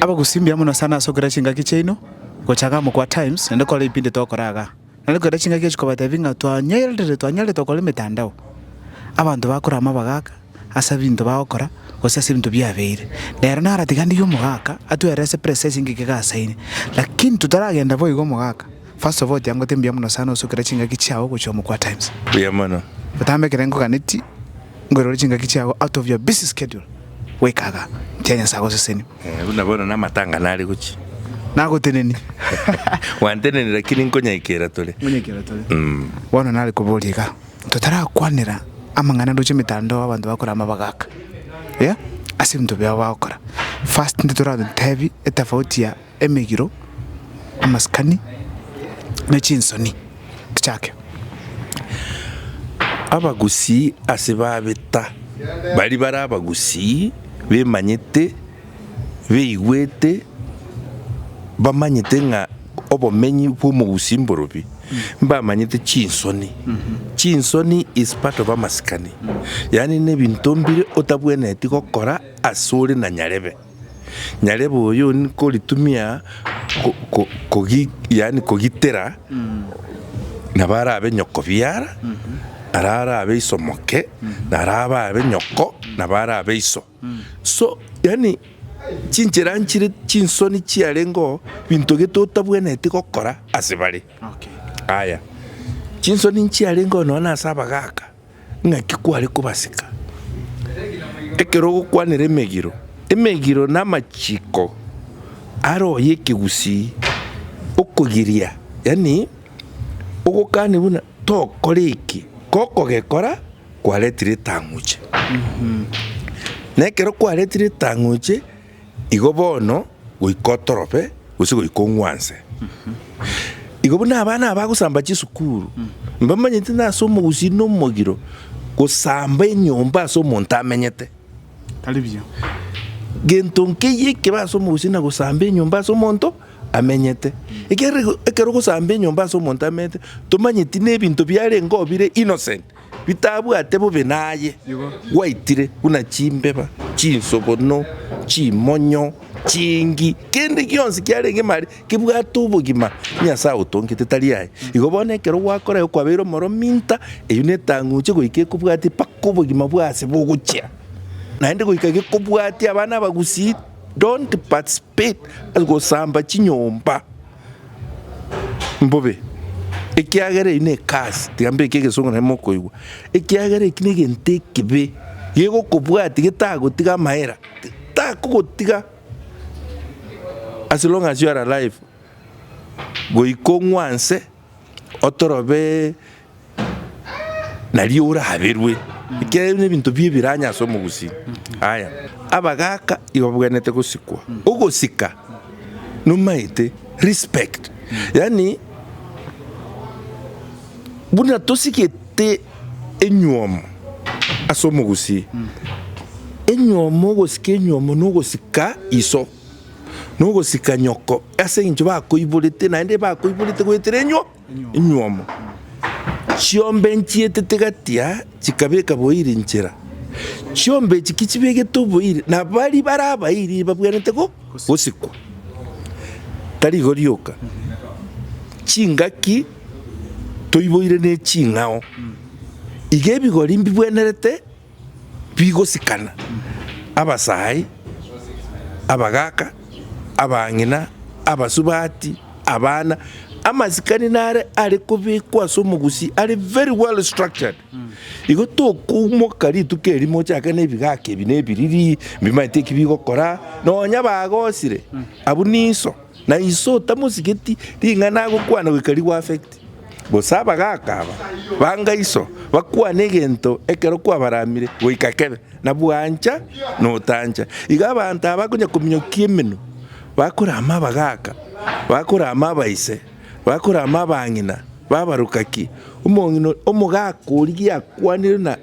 Abagusii mbuya mono sana ase okera chingaki chiaino gocha iga amo kwa Times naende kore ebipindi togokora iga. Naende kera chingaki echi kobatebia ng'a twanyeirire twanyarete gokora emetandao, abanto bakore amabaga aka ase ebinto bagokora gose ase ebinto biabeire. Nere naro tiga ndigie omogaka atwere ase presesi engaki iga ase ene. Lakini totaragenda boigo omogaka, first of all tiangote mbuya mono sana ase okera chingaki chiao gocha amo kwa Times. Mbuya mono. Botambe ekero ngoganeti. Nkwerore chingaki chiago out of your busy schedule goika iga. Nkiya Nyasae agoseseni. Eh, buna bono namatang'ana are gochia. Nagoteneni. Gwanteneni lakini nkonyaika era tore. Nkonyaika era tore. Mm. Bono nare koboria iga. Totarakwanera amang'ana ndoche emetandao abanto bakora amabaga aka. Yeah? Ase ebinto biao bagokora. First ntitoratotebi etafauti ya emegiro, amasikani, ne chinsoni tichake. Abagusii ase babeta baria bare abagusii bemanyete, beigwete, bamanyete ng'a obomenyi bw'omogusii mborobi, mbamanyete chinsoni. Chinsoni is part of amasikani, yaani nebinto mbire otabwenereti gokora ase ore na nyarebe. nyarebe oyo nkoritumia yaani kogitera nabo arabe nyoko biara, naro arabe iso moke, naro ababe nyoko nabo arabe iso. So yaani chinchera nchire chinsoni chiarengeo binto gete otabwenereti gokora ase bare. Aya, chinsoni nchiarengeo nonya ase abagaka. Ng'aki kware kobaseka ekero ogokwanera emegiro? Emegiro namachiko aroyio ekegusii okogiria, yaani ogokani buna tokore eki, gokogekora kwaretire etang'uche. Nekero kwaretire etang'uche. Igo bono, goika otorobe, gose goika ong'wanse. Igo buna abana abagosamba chisukuru, mbamanyeti nase omogusii na omogiro, gosamba enyomba ase omonto amenyete. Tari buya. Gento nkeyio ekebe ase omogusii na gosamba enyomba ase omonto amenyete. Ekerego ekero ogosamba enyomba ase omonto amenyete, tomanyeti na ebinto biarengeo bire innocent. bitabwate bobe naye, gwaitire buna chimbeba, chinsogono, chimonyo, chingi, kende gionsi kiarenge mare kebwate obogima, Nyasae otongete tari aye. Igo bono ekero gwakorire okwabeire omoro minta, eyio netang'uche goika ekobwatia mpaka obogima bwa ase bogochia, naende goika gekobwatia abana abagusii, don't participate ase gosamba chinyomba. Mbobe, ekiagera eyio nekasi, tiga mbeke egesongo naende mokoigwa, ekiagera eki negento ekibe, gegokobwatia getagotiga amahera, takogotiga as long as you are alive, goika ong'wanse, otorobe nario oraberwe, ekiagera ebio nebinto bia ebiranya ase omogusii. Aya, abagaka igo babwenerete gosikwa, ogosika nomaete respect, yaani buna tosigete enywomo ase omogusii, enywomo ogosika enywomo nogosika iso, nogosika nyoko ase eng'encho bakoiborete naende bakoiborete goetera enywo. Enywomo chiombe nchietete gati-a chikabeka boiri inchera. Chiombe echi ki chibegete oboiri, na baria bare abairi babwenerete gosikwa. Tari igo rioka, chingaki toiboire ne ching'ao. Iga ebigori mbibwenerete bigosikana, abasaai, abagaaka, abang'ina, abasubati, abana, amasikani nare are kobekwa ase omogusii are very well structured. Igo tokoumoka rituko eri mochake na ebigaaka ebi na ebiriri mbimanyete eki bigokora, nonya bagosire abwo niso, na iso otamosigeti ring'ana agokwana goika rigo affect. Gose abagaaka aba banga iso, bakwane egento ekero kwabaramire goika kebe, na bwancha na otancha. Igo abanto aba bakonya kominyokia emenwa, bakorama abagaaka, bakorama abaise, bakorama abang'ina babarokaki, omong'ina omogaaka oria giakwanire na.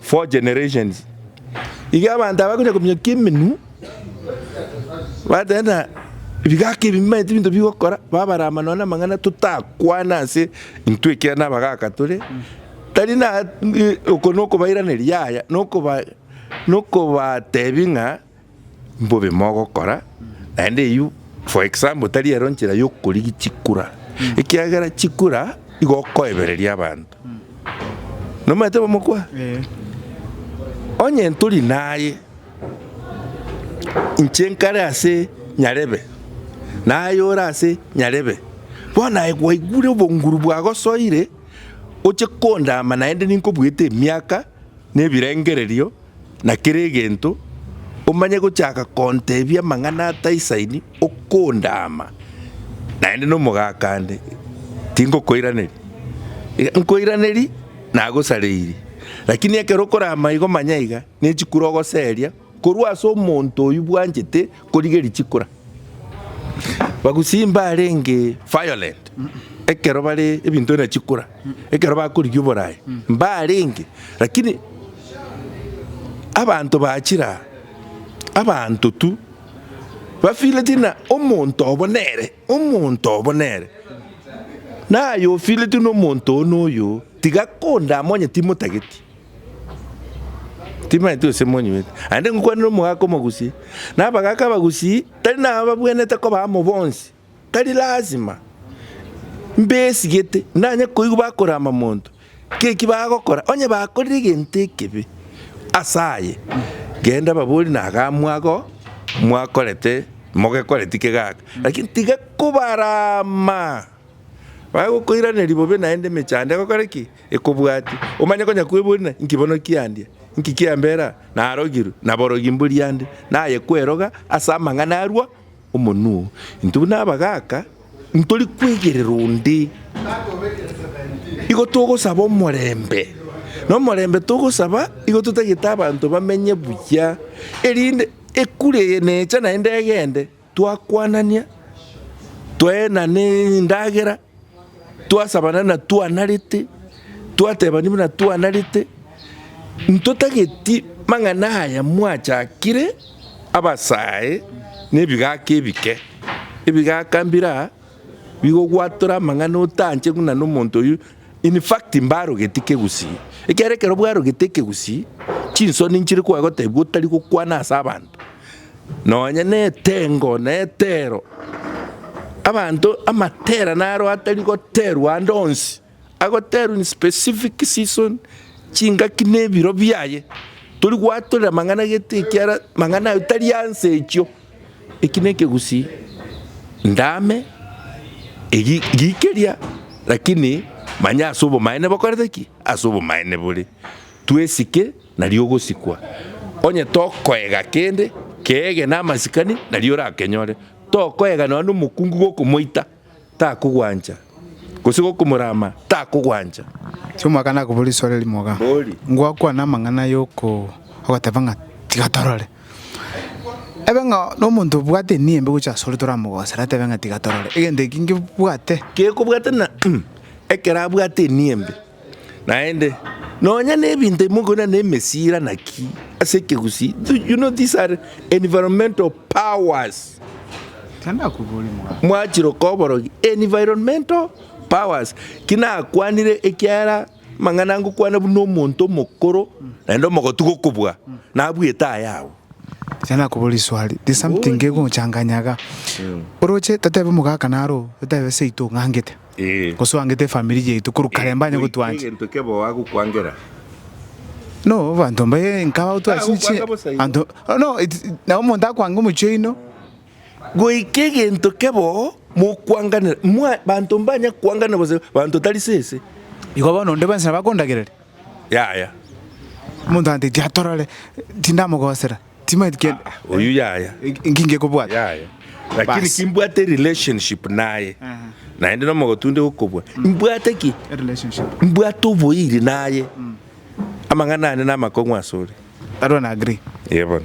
Four generations iga abanto aba bakonya kominyokia emenwa, bateba ng'a ebigaka ebi mbimanyete ebinto bigokora, babarama nonya na amang'ana totakwana ase intwe ekiagera nabagaka tore, tari na oko nokobairaneria yaya, nokoba nokobatebia ng'a mbobe mogokora, naende eyio for example tari ero nchera yokorigia chikura, ekiagera chikura igo okoebereria abanto, nomanyete abamokwana? Onye ntori naye, inche nkare ase Nyarebe, naye ore ase Nyarebe, bono aye gwaigure obonguru bwagosoire, oche kondama naende ninkobuete emiaka na ebirengererio. na kera egento, omanye gochaka kontebia amang'ana ataisaini okondaama, naende nomogaaka ande, tingokoiraneria. Iga nkoiraneria, nagosareiri. Rakini ekero okoraama igo manya iga, ne chikura ogoseria korwa ase omonto oyio bwanchete. Korigeria chikura. Bagusii mbarenge violent ekero bare ebinto bina chikura ekero bakorigia oborai mbarenge lakini abanto bachire aa abanto tu bafeeleti ng'a omonto obo nere omonto obo nere naye ofeeleti ng'a omonto oyo noyo tiga konde amonye timotageti. Timanyeti gose monyueti, naende ngokwanera omogaka omogusii, na abagaka abagusii tari nababwenerete koba amo bonsi, tari lasima, mbesigete nanye koigwa bakorama monto ng'a eki bagokora, onye bakorire egento ekebe ase aye, genda obaborie na iga mwago mwakorete mogekoreti ki gaka, lakini tiga kobarama. Bagokoiraneria bobe naende emechando egokora ki? Ekobwati. Omanye konya kweburana, inki bono kiandia? Inki kiambera aa? Narogirwe, naborogi mbori ande, naye kweroga ase amang'ana arua omonwa oo. Intwe buna abagaaka, ntori kwegerera onde. Igo togosaba omorembe. Na omorembe togosaba, igo totagete abanto bamenye buya, erinde ekura eye necha naende egende. twakwanania, twaenana endagera, twasabana buna twanarete, twatebania buna twanarete, ntotageti mang'ana aya mwachakire abasae na ebigaka ebike, ebigaka mbire aa. Nigo gwatore amang'ana otanche buna nomonto oyio in fact mbarogeti kegusii ekiagera ekero bwarogete ekegusii chinsoni nchire koa gotebi otari gokwana ase abanto nonya na etengo na etero abanto amatera naro atari goterwa ande onsi Agoterwa in specific season, chingaki na ebiro biaye. Tori gwatorera mang'ana gete ekiara mang'ana aye tari anse echio. Eki na ekegusii ndame eri rikeria lakini manya ase obomaene bokorete ki? Ase obomaene bore. Twesike nario ogosikwa. Onye tokoega kende, keege na amasikani nario orakenyore. Tokoega nonya na omokungu gokomoita. takogwancha, gose gokomorama, takogwancha. Ase omwaka nakobua riswari rimoga, ngwakwana amang'ana ya ogoteba ng'a tiga torore. Ebe ng'a nomonto obwate enia embe gochia asore toramogosere atebe ng'a tiga torore, egento eki ngebwate. Kekobwate na ekero abwate enia embe. Naende, nonya nebinto bimo konya ne emesira naki ase ekegusii, you know these are environmental powers. Mwachire okoa oborogi environmental powers. Ki nakwanire ekiagera amang'ana ngokwana buna omonto omokoro naende omogotu gokobua nabwete aya agwo. Iga nakoboria riswali, there's something kegonchanganya iga. Oroche totebi omogaka naro otebi seito ong'angete. Gosoangete efamiri yaito korwa kare mbanye gotwancha. No abanto mbaye nkaba otwachinche abanto no nabo omonto akwange omochie oino. Goika egento keboo mokwanganera abanto mbanye kwangana gose abanto tari sese. Igo bono onde bwensi nabo akondagereria? Yaya. Omonto agantebia tiatorore tindamogosera. Timaeti kende. Ah, ah, oyio yaya. Inki ngekobwata? Yaya. Lakini Bas. kimbwate relationship naye. Aha. Naende no mogotunde gokobwa. Mbwate ki? A relationship. Mbwate oboiri naye. Amang'ana ane na amakong'u asore. That one I agree. Yebona.